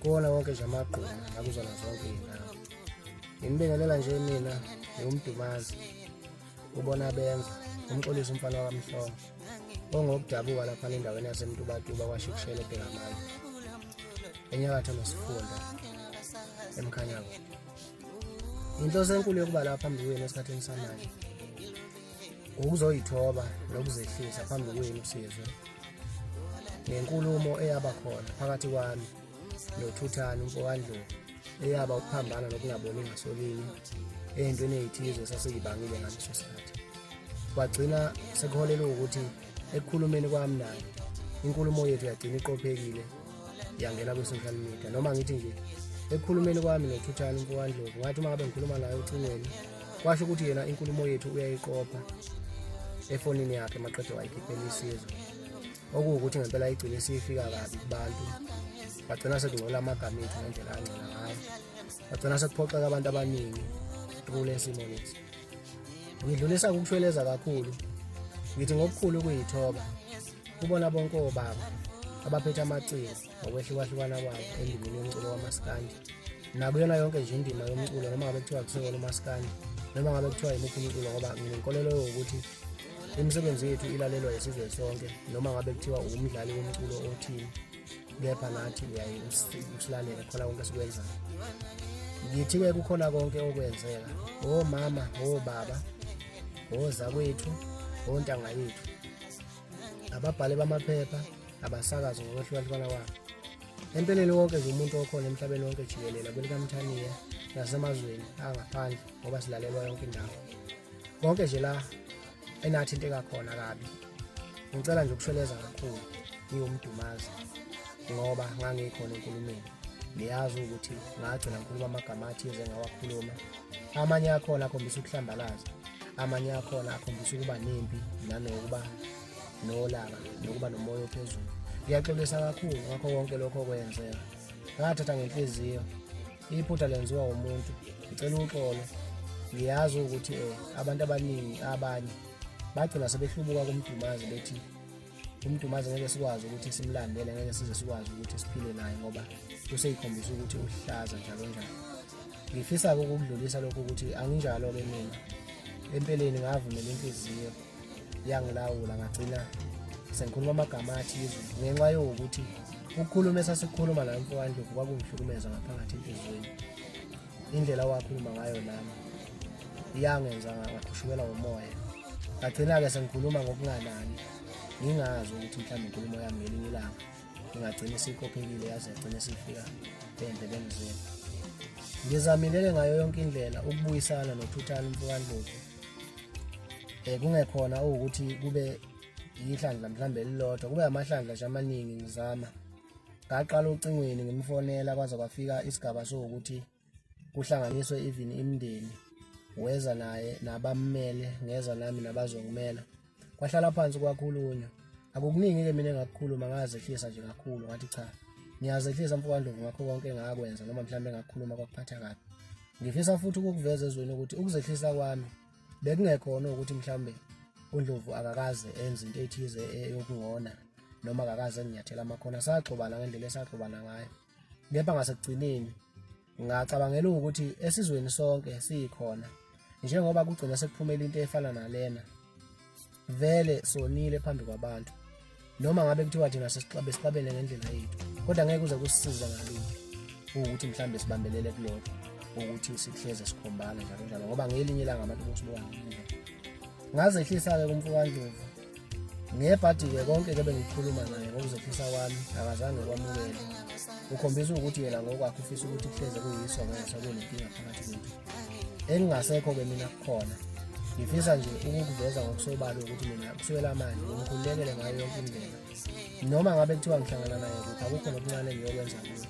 kuwona wonke nje amagquma akuzona zonke iy'ndawo ngimibingelela nje mina ngiwumdumazi ubona benza umxolisa umfana wakamhlongo ongokudabuka laphana endaweni yasemtubatuba kwasho ukushela ebhekamane enyakatho nesifunda emkhanyako inhloso enkulu yokuba lapha phambi kwenu esikhathini samanje ukuzoyithoba nokuzehlisa phambi kwenu sizwe ngenkulumo eyaba khona phakathi kwami nothuthani umfowandlovu eyaba ukuphambana nokungaboni ngasolinye eyintweni eyithize esasiyibangile ngaleso sikhathi kwagcina sekuholele ukuthi ekukhulumeni kwami naye inkulumo yethu yagcina iqophekile yangena kwi-social media noma ngithi nje ekukhulumeni kwami nothuthani umfowandlovu ngathi uma ngabe ngikhuluma naye ocingweni kwasho ukuthi yena inkulumo yethu uyayiqopha efonini yakhe maqede wayikhiphela isizo okuwukuthi ngempela igcine siyifika kabi kubantu bagcina sekungcola amagama ethu ngendlela angcola ngayo bagcina sekuphoxeka abantu abaningi kule simo lesi ngidlulisa ukushweleza kakhulu ngithi ngokukhulu ukuyithoba kubona bonke obaba abaphethe amaciko ngokwehlukahlukana kwabo endimeni yomculo wamaskandi nakuyona yonke nje indima yomculo noma ngabe kuthiwa kusekona umaskandi noma ngabe kuthiwa yimuphi umculo ngoba nginenkolelo yokuthi imisebenzi yethu ilalelwa yisizwe sonke noma ngabe kuthiwa uwumdlali womculo othini kepha nathi uyaye usilalele khona konke esikwenzayo ngithi-ke kukhona konke okwenzeka omama obaba ozakwethu ontanga yethu ababhali bamaphepha abasakazi ngokwehlukahlukana kwabo empeleni wonke nje umuntu okhona emhlabeni wonke jikelele kwelikamthaniya nasemazweni angaphandle ngoba silalelwa yonke indawo konke nje la enathinteka khona kabi ngicela nje ukushweleza kakhulu ngiwumdumazi ngoba ngangikhona enkulumeni niyazi ukuthi ngagcina ngikhuluma amagama athize ngawakhuluma amanye akhona akhombisa ukuhlambalaza amanye akhona akhombisa ukuba nempi nanokuba nolaka nokuba nomoya ophezulu ngiyaxolisa kakhulu ngakho konke lokho okwenzeka ngathatha ngenhliziyo iphutha lenziwa umuntu ngicela uxolo ngiyazi ukuthi um abantu abaningi abanye bagcina sebehlubuka kumdumazi bethi uMdumazi ngeke sikwazi ukuthi simlandele ngeke size sikwazi ukuthi siphile naye ngoba useyikhombisa ukuthi uhlaza njalo njalo ngifisa-ke ukukudlulisa lokho ukuthi anginjalo-ke mina empeleni ngavumela inhliziyo yangilawula ngagcina sengikhuluma amagama athize ngenxa yokuthi ukukhuluma esasikhuluma la mfowandlovu kwakungihlukumeza ngaphakathi enhliziyweni indlela wakhuluma ngayo nami iyangenza ngakhushukelwa umoya ngagcina-ke sengikhuluma ngokunganani ngingazi ukuthi mhlawumbe inkulumo yami ngelinye ilanga ingagcina isikophekile yaze yagcina isifika endlebeni zenu ngizamilele ngayo yonke indlela ukubuyisana nothuthana umfukandlovu um kungekhona ukuthi kube yihlandla mhlawumbe elilodwa kube amahlandla nje amaningi ngizama ngaqala ocingweni ngimfonela kwaze kwafika isigaba sokuthi kuhlanganiswe even imndeni weza naye nabammele ngeza nami nabazongimela kwahlala phansi kwakhulunywa akukuningi ke mina engakukhuluma ngazehlisa nje kakhulu ngathi cha ngiyazehlisa mfowandlovu ngakho konke engakwenza noma mhlawumbe ngakukhuluma kwakuphatha kabi ngifisa futhi ukukuveza ezweni ukuthi ukuzehlisa kwami bekungekhona ukuthi mhlawumbe uNdlovu akakaze enze into ethize eyokungona noma akakaze enginyathela amakhona saxobana ngendlela esaxobana ngayo kepha ngasekugcineni ngacabangela ukuthi esizweni sonke siyikhona njengoba kugcina sekuphumela into efana nalena vele sonile phambi kwabantu noma ngabe kuthiwa thina sesixabe sixabene ngendlela yethu kodwa ngeke uze kusisiza ngalutho ukuthi mhlawumbe sibambelele kulokho ukuthi sihleze sikhombana njalo njalo ngoba ngelinye ilanga abantu bosibuka ngazehlisa-ke kumfukandlovu ngebhadi-ke konke ke bengikhuluma naye ngokuzehlisa kwami akazange kwamukele ukhombisa ukuthi yena ngokwakhe ufisa ukuthi kuhleze kuyiso ngenxa kunenkinga phakathi kwethu engingasekho-ke mina kukhona ngifisa nje ukukuveza ngokusobala ukuthi mina kuswela manje ngikhululekele ngayo yonke indlela noma ngabe kuthiwa ngihlangana naye kuphi akukho nokuncane ngiyokwenza kuyo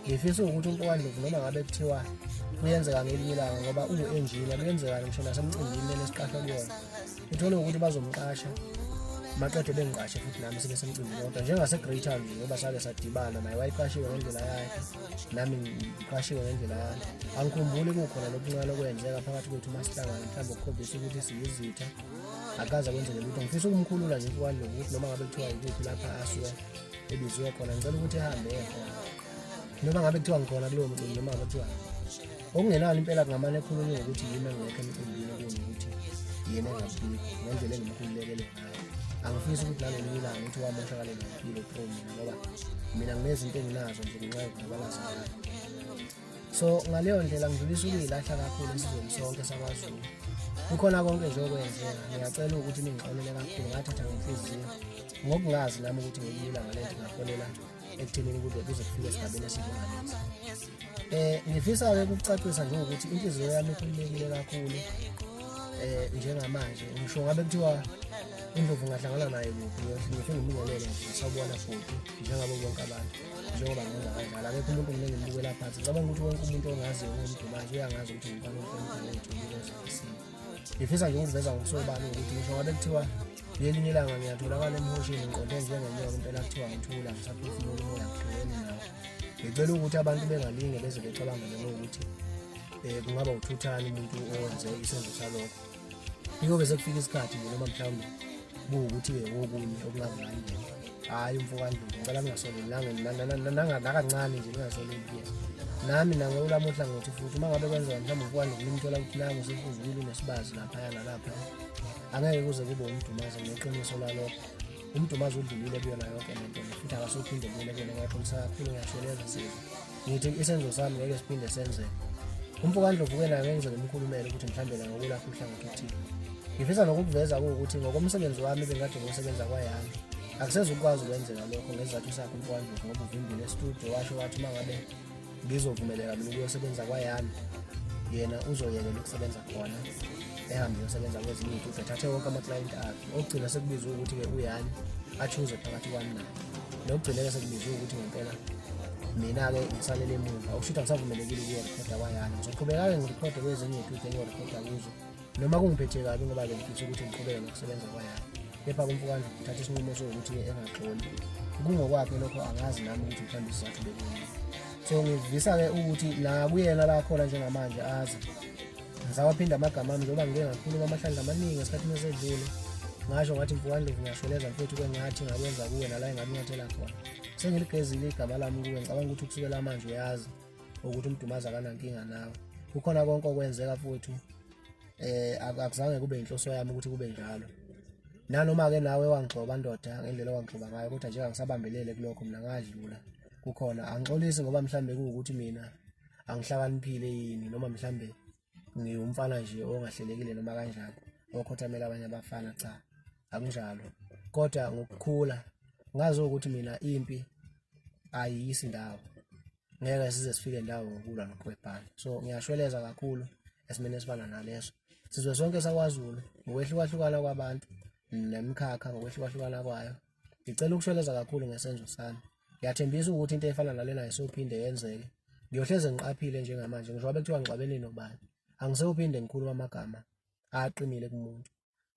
ngifisa ukuthi umpokandlovu noma ngabe kuthiwa kuyenzeka ngelinye ilanga ngoba uwu-enjina kuyenzekani ngisho nasemcimbini lesiqashwa kuyona uthole ukuthi bazomqasha maqede bengiqashe futhi nami sibe semcimbi kodwa njengase-greater nje ngoba sake sadibana naye wayiqashiwe ngendlela yakhe nami ngiqashiwe ngendlela yakhe angikhumbuli kukhona lokuncane okwenzeka phakathi kwethu uma sihlangana mhlawumbe ukukhombisa ukuthi siyizitha akaze kwenzele lutho ngifisa ukumkhulula nje ikwani lokuthi noma ngabe kuthiwa yikuphi lapha asuke ebiziwe khona ngicela ukuthi ehambe ekhona noma ngabe kuthiwa ngikhona kulowo mcimbi noma ngabe kuthiwa okungenani impela kungamane ekhulunywe ukuthi yimi engekho emcimbini okunye ukuthi yena engabikho ngendlela engimkhululekele ngayo angifisi ukuthi nalolunye ilanga ukuthi wamoshakale ngempilo promi ngoba mina nginezinto enginazo nje ngenxa yokudabalaza ngayo so ngaleyo ndlela ngidlulisa ukuyilahla kakhulu esizweni sonke sakwazulu kukhona konke nje okwenzeka ngiyacela ukuthi ningixolele kakhulu ngathatha ngenhliziyo ngokungazi nami ukuthi ngiyilanga lento ngaholela ekuthenini kuze kuze kufike esigabeni esinjengalesi eh ngifisa-ke ukucacisa nje ukuthi inhliziyo yami ikhululekile kakhulu eh njengamanje ngisho ngabe kuthiwa indlovu ngahlangana naye kuphi ngisho ngimubonele nje sawubona futhi njengabo bonke abantu njengoba ngenza kanjalo akekho umuntu mina ngimbukela phansi ngicabanga ukuthi wonke umuntu ongaziyo ngomdumazi uyangazi ukuthi ngimfana umfana wethu ngifisa nje ukuveza ngokusobala ukuthi ngisho ngabe kuthiwa ngelinye ilanga ngiyatholakala emhosheni ngiqonde njengenyoka impela kuthiwa ngithula ngisaphefumula umoya ngigqokeni nawo ngicela ukuthi abantu bengalinge beze becabangele ngokuthi um kungaba uthuthani umuntu owenze isenzo salokho yikobe sekufika isikhathi nje noma mhlawumbe kuwukuthi-ke kokunye okungazali nje hhayi umfokanduku ngicela ningasolelilangakancane nje ningasoleli kuyena nami nangolami uhlangothi futhi uma ngabe kwenzeka mhlawumbe umfokanduku nimthola ukuthi nangu sefuzukile unesibazi laphaya nalaphaya angeke kuze kube umdumazi ngeqiniso lalokho umdumazi udlulile kuyona yonke le nto futhi akasophinde kuyona kuyona ngaxolisa kakhulu ngiyashona ezisiza ngithi isenzo sami ngeke siphinde senzeke umfo kandlovu ke nayo ngenzeka umkhulumele ukuthi mhlawumbe la ngokulapha uhlangothi othile ngifisa nokukuveza kuwukuthi ngokomsebenzi wami bengade ngosebenza kwayami akusezukwazi ukwenzeka lokho ngesizathu sakho umfo kandlovu ngoba uvimbile estudio washo wathi uma ngabe ngizovumeleka mina ukuyosebenza kwayami yena uzoyekela ukusebenza khona ehambe yosebenza kwezinye iy'tubhe thathe wonke amaklayenti akhe okugcina sekubizwe ukuthi-ke uyani achuze phakathi kwami naye nokugcine-ke sekubizwe ukuthi ngempela mina-ke ngisalele emuva okusho ukuthi angisavumelekile ukuyorekhoda kwayani ngizoqhubeka-ke ngirikhode kwezinye iy'tubhe engiyorekhoda kuzo noma kungiphethe kabi ngoba bengifisa ukuthi ngiqhubeke nokusebenza kwayami kepha kumfukandla uthatha isinqumo sokuthi engaxoli kungokwakhe lokho angazi nami ukuthi mhlawumbe isizathu bekuyini so ngivisa-ke ukuthi nakuyena la khona njengamanje azi ngisawaphinda amagama ami njengoba ngike ngakhuluma amahlandla amaningi esikhathini esedlule ngasho ngathi mfukandlovu ngiyashweleza mfethu kwengathi ngakwenza kuwe nala engakunyathela khona sengiligezile igama lami kuwe ngicabanga ukuthi ukusukela manje uyazi ukuthi umdumazi akanankinga nawe kukhona konke okwenzeka futhi eh akuzange kube inhloso yami ukuthi kube njalo nanoma ke nawe wangixoba ndoda ngendlela wangixoba ngayo kodwa nje angisabambelele kulokho mina ngadlula kukhona angixolisi ngoba mhlambe kuwukuthi mina angihlakaniphile yini noma mhlambe ngiwumfana nje ongahlelekile noma kanjani okhothamela abanye abafana cha akunjalo kodwa ngokukhula ngazi ukuthi mina impi ayiyisi ndawo ngeke size sifike ndawo ngokulwa noqwebhana so ngiyashweleza kakhulu esimeni esifana naleso sizwe sonke sakwazulu ngokwehlukahlukana kwabantu nemikhakha ngokwehlukahlukana kwayo ngicela ukushweleza kakhulu ngesenzo sami ngiyathembisa ukuthi into efana nalena isophinde yenzeke ngiyohleze ngiqaphile njengamanje ngisho abe kuthiwa ngixabene nobani angisewuphinde ngikhuluma amagama aqinile kumuntu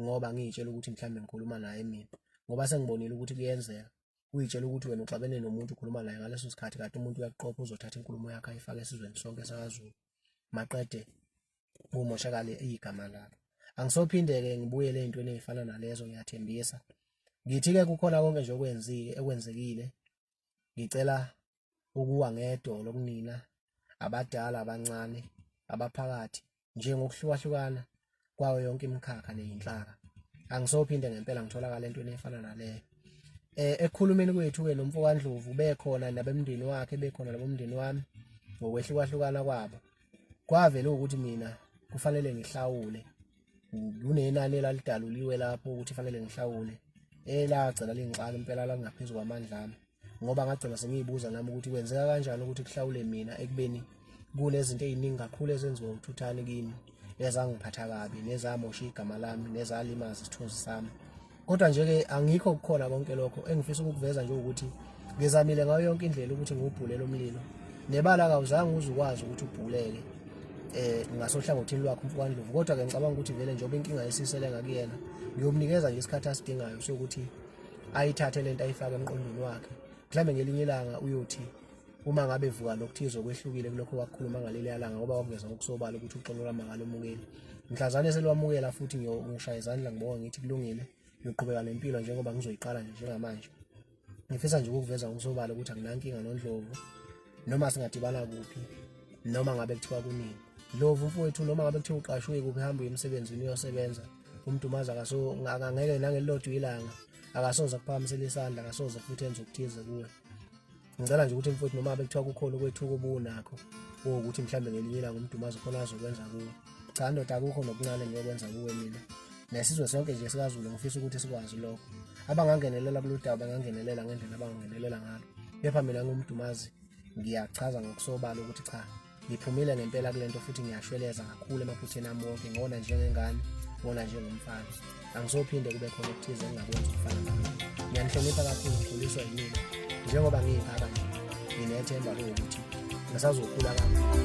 ngoba ngiyitshela ukuthi mhlawumbe ngikhuluma naye mina ngoba sengibonile ukuthi kuyenzeka uyitshela ukuthi wena uxabene nomuntu ukhuluma naye ngaleso sikhathi kade umuntu uyakuqopha uzothatha inkulumo yakhe ayifake esizweni sonke sakazulu maqede kumoshakale igama lakho angisophinde-ke ngibuyele ey'ntweni ey'fana nalezo ngiyathembisa ngithi-ke kukhona konke nje okwenzike ekwenzekile ngicela ukuwa ngedolo kunina abadala abancane abaphakathi njengokuhlukahlukana kwayo yonke imikhakha neyinhlaka angisophinde ngempela ngitholakala entweni efana naleyo eh ekukhulumeni kwethu ke nomfowandlovu bekhona nabemndeni wakhe bekhona labomndeni wami ngokwehlukahlukana kwabo kwavele ukuthi mina kufanele ngihlawule kunenani elalidaluliwe lapho ukuthi fanele ngihlawule elagcina lingixaka impela langaphezu kwamandla ami ngoba ngagcina sengiyibuza nami ukuthi kwenzeka kanjani ukuthi kuhlawule mina ekubeni kunezinto eziningi kakhulu ezenziwa uthuthani kimi ezangiphatha kabi nezamosha igama lami nezalimaza isithunzi sami kodwa nje ke angikho kukhona konke lokho engifisa ukukuveza nje ukuthi ngizamile ngayo yonke indlela ukuthi ngiwubhulele umlilo nebala akawuzange uze ukwazi ukuthi ubhuleke eh ngasohlangothini lwakhe umfukani Ndlovu kodwa ke ngicabanga ukuthi vele njengoba inkinga yesisele ngakuyena ngiyomnikeza nje isikhathi asidingayo sokuthi ayithathe lento ayifake emqondweni wakhe mhlambe ngelinye ilanga uyothi uma ngabe vuka lokuthize okwehlukile kulokho wakukhuluma ngaleli yalanga ngoba wakuveza ngokusobala ukuthi uxolo lwamangala omukeli mhlazane selwamukela futhi ngishaya izandla ngibonga ngithi kulungile ngiqhubeka nempilo njengoba ngizoyiqala nje njengamanje ngifisa nje ukuveza ngokusobala ukuthi anginankinga nondlovu noma singadibana kuphi noma ngabe kuthiwa kunini lovu mfowethu noma ngabe kuthiwa uqashwe kuphi hamba uye emsebenzini uyosebenza umdumazi akaso angangeke nangelilodwa ilanga akasoze kuphakamisela isandla akasoze futhi enze okuthize kuwe ngicela nje ukuthi mfowethu noma bekuthiwa kukhona ukwethuka obunakho ukuthi mhlawumbe ngelinye ilanga umdumazi khona azokwenza kuwe cha ndoda akukho nokuncane ngiyokwenza kuwe mina nesizwe sonke nje sikazulu ngifisa ukuthi sikwazi lokho abangangenelela kulolu daba bangangenelela ngendlela abangangenelela ngalo kepha mina ngumdumazi ngiyachaza ngokusobala ukuthi cha Ngiphumile ngempela kule nto futhi ngiyashweleza kakhulu emaphutheni ami wonke ngona njengengane ngona njengomfana angizophinde kube khona okuthize engingakwenza ukufana nami ngiyanihlonipha kakhulu ngikhuliswa yimina njengoba ngiyingaka nje nginethemba lokuthi ngisazokhula kakhulu